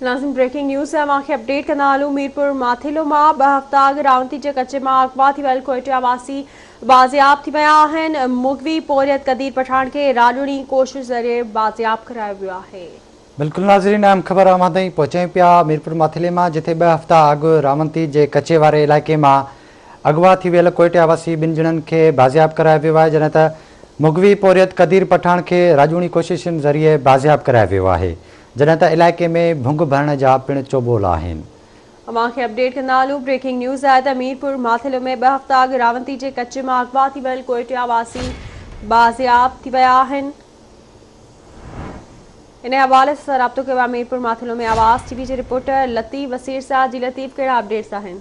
ناظرين breaking news اوهان کي اپڊيٽ ڪندا هلون ميرپور ماٿيلو مان ٻه هفتا اڳ راونتي جي ڪچي مان اغوا ٿي ويل ڪوئيٽا واسي بازياب ٿي ويا آهن مغوي پورهيت قدير پٺاڻ کي راڄوڻي ڪوشش ذريعي بازياب ڪرايو ويو آهي. بلڪل ناظرين اهم خبر اوهان تائين پهچايون پيا ميرپور ماٿيلي مان جتي ٻه هفتا اڳ راونتي جي ڪچي واري علائقي مان اغوا ٿي ويل ڪوئيٽا واسي ٻن ڄڻن کي بازياب ڪرايو ويو آهي جڏهن ته مغوي پورهيت قدير پٺاڻ کي راڄوڻي ڪوششن ذريعي بازياب ڪرايو ويو آهي جڏهن ته علائقي ۾ ڀنگ ڀرڻ جا پڻ چوٻول آهن. اوهان کي اپڊيٽ ڪندا هلون بريڪنگ نيوز آهي ته ميرپور ماٿيلو ۾ ٻه هفتا اڳ راونتي جي ڪچي مان اغوا ٿي ويل ڪوئٽيا واسي بازياب ٿي ويا آهن انهي حوالي سان رابطو ڪيو آهي ميرپور ماٿيلو ۾ آواز ٽي وي جي رپورٽر لطيف وسيرساجي لطيف ڪهڙا اپڊيٽس آهن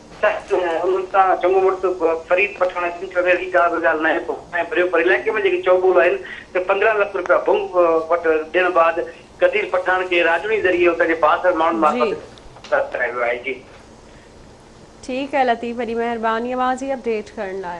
سخت انهن تان چڱو مڙس فريد پٺاڻ سنڌ ڇڏڻ جي ڪا به ڳالهه ناهي ڪوٺائين ڀريو پر علائقي ۾ جيڪي چؤ ٻول آهن ته پندرهن لک روپيا ڀنگ وٽ ڏيڻ بعد قدير پٺاڻ کي راڄوڻي ذريعي اتان جي بااثر ماڻهن معرفت گرفتار ڪرايو ويو آهي جي. ٺيڪ آهي لطيف وڏي مهرباني اوهان جي اپڊيٽ ڪرڻ لاء.